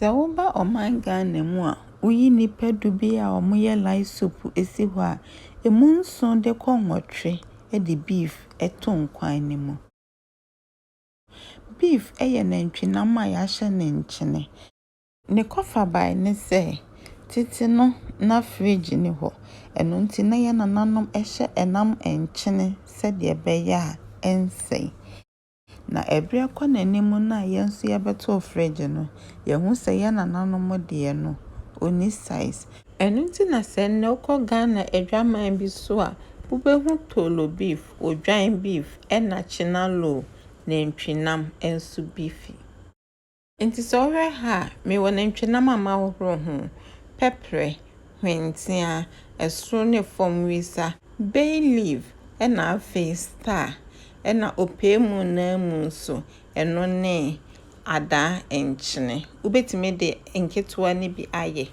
Sɛ woba ɔman Ghana mu a, woyi nnipa du bi a wɔyɛ lice soup si hɔ a, ɛmu nson de kɔ nwɔtwe de beef to nkwan no mu. Beef yɛ nantwinam a yɛahyɛ no nkyene. Ne kɔfabae ne sɛ, tete no na fridge nni hɔ, ɛno nti na yɛn nananom hyɛ nam nkyene sɛdeɛ ɛbɛyɛ a ɛrensɛe. Na ɛberɛ kɔ n'anim no a yɛn nso yɛbɛtoo fridge no, yɛhu sɛ yɛn nananom deɛ no, ɔnni size. Ɛno nti na sɛ nnɛ wokɔ Ghana adwaman bi so a, wobɛhu Tolo beef, Odwan beef, ɛna Chinaloo, nantwinam, nso bi fi. Enti sɛ wohwɛ ha a, mewɔ nantwinam a mahohoro ho, pɛprɛ, hwentia, ɛsoro ne fam wisa, bay leaf, ɛna afei star, ɛna ɔpɛɛ mu no ara mu nso, ɛno ne adaa nkyene. Wobɛtumi de nketewa no bi ayɛ.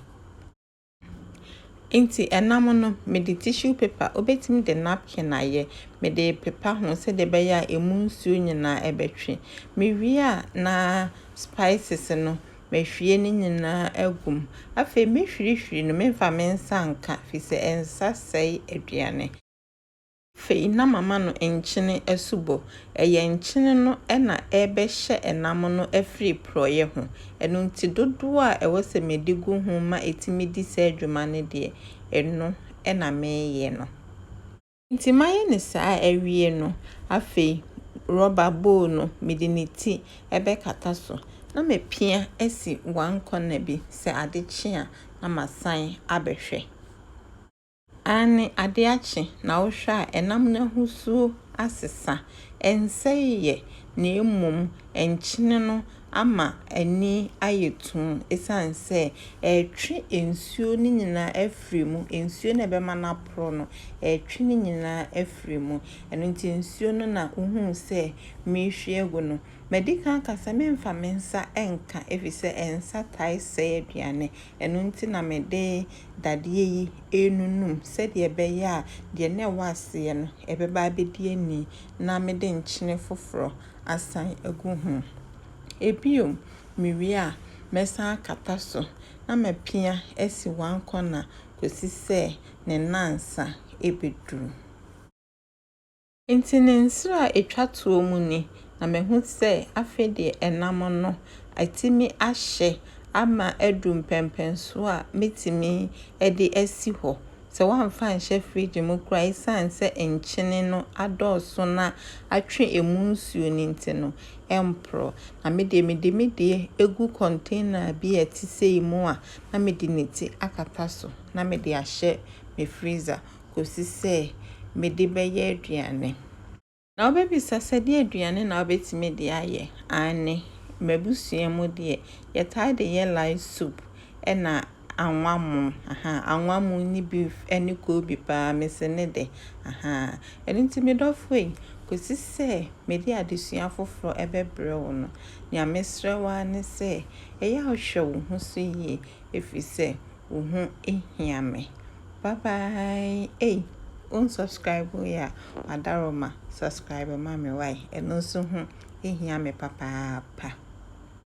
Nti ɛnam no mede tissue paper, wobɛtumi de napkin ayɛ, mede repepa ho sɛdeɛ ɛbɛyɛ a ɛmu nsuo nyinaa ɛbɛtwe. Mewie a na spices no mahwie ne nyinaa agu mu. Afei mɛhwirihwiri no, memfa me nsa nka firi sɛ nsa sɛe aduane. Afei na mama no nkyene asubɔ. Ɛyɛ nkyene no na ɛrebɛhyɛ nam no afiri porɔeɛ ho. Ɛno nti dodoɔ a ɛwɔ sɛ mede gu ho ma ɛtumi di saa dwuma no deɛ, ɛno na meyɛ no. Enti mayɛ no saa awie no, afei rɔba bowl no mede ne ti bɛkata so na mapia asi one corner bi, sɛ ade kye a na masan abɛhwɛ. Aane, ade akye, na wohwɛ a, ɛnam no ahosuo asesa, ɛnsɛee yɛ, na mmom nkyene no ama ani ayɛ tumm, ɛsiane sɛ ɛretwe nsuo no nyinaa afiri mu, nsuo no a ɛbɛma no aporo no, ɛretwe ne nyinaa afiri mu. Ɛno nti nsuo no na wohuu sɛ merehwie agu no. Madi kan aka sɛ meremfa me nsa nka, ɛfiri sɛ nsa tae sɛe aduane, Ɛno nti na mede dadeɛ yi renunu mu, sɛdeɛ ɛbɛyɛ a deɛ na ɛwɔ aseɛ no, ɛbɛba abɛdi ani, na mede nkyene foforɔ asan agu ho. Bio, mewie a, mɛsan akata so, na mapia asi one corner kɔsi sɛ ne nnansa bɛduru. Nti ne nsra a ɛtwa toɔ mu ni, na mahu sɛ afei deɛ ɛnam no atumi ahyɛ ama adu mpɛnpɛnsoɔ a mɛtumi de asi hɔ, sɛ woamfa anhyɛ fridge mu koraa ɛsiane sɛ nkyene no adɔɔso na atwe ɛmu nsuo no nti no, ɛmporɔ. Na me deɛ mede me deɛ gu container bi a ɛte sei mu a na mede ne ti akata so na mede ahyɛ me freezer mu. kɔsi sɛ mede bɛyɛ aduane. Na wobɛbisa sɛ, deɛ aduane na wobɛtumi de ayɛ? Aane, m'abusua mu deɛ, yɛtaa de yɛ light soup ɛna anwa mo, ahaa, anwa mo ne beef ɛne koobi paa, mese ne dɛ, ahaa. Ɛno nti me dɔfoɔ yi, kɔsi sɛ mede adesua foforɔ ɛbɛbrɛ wo no, nea mesrɛ wo ara ne sɛ, ɛyɛ a hwɛ wo ho so yie, ɛfiri sɛ, Wo ho hia me bye bye ei won subscribe yɛ a madaroma subscribe ma me wai ɛno nso ho hia me papaapa.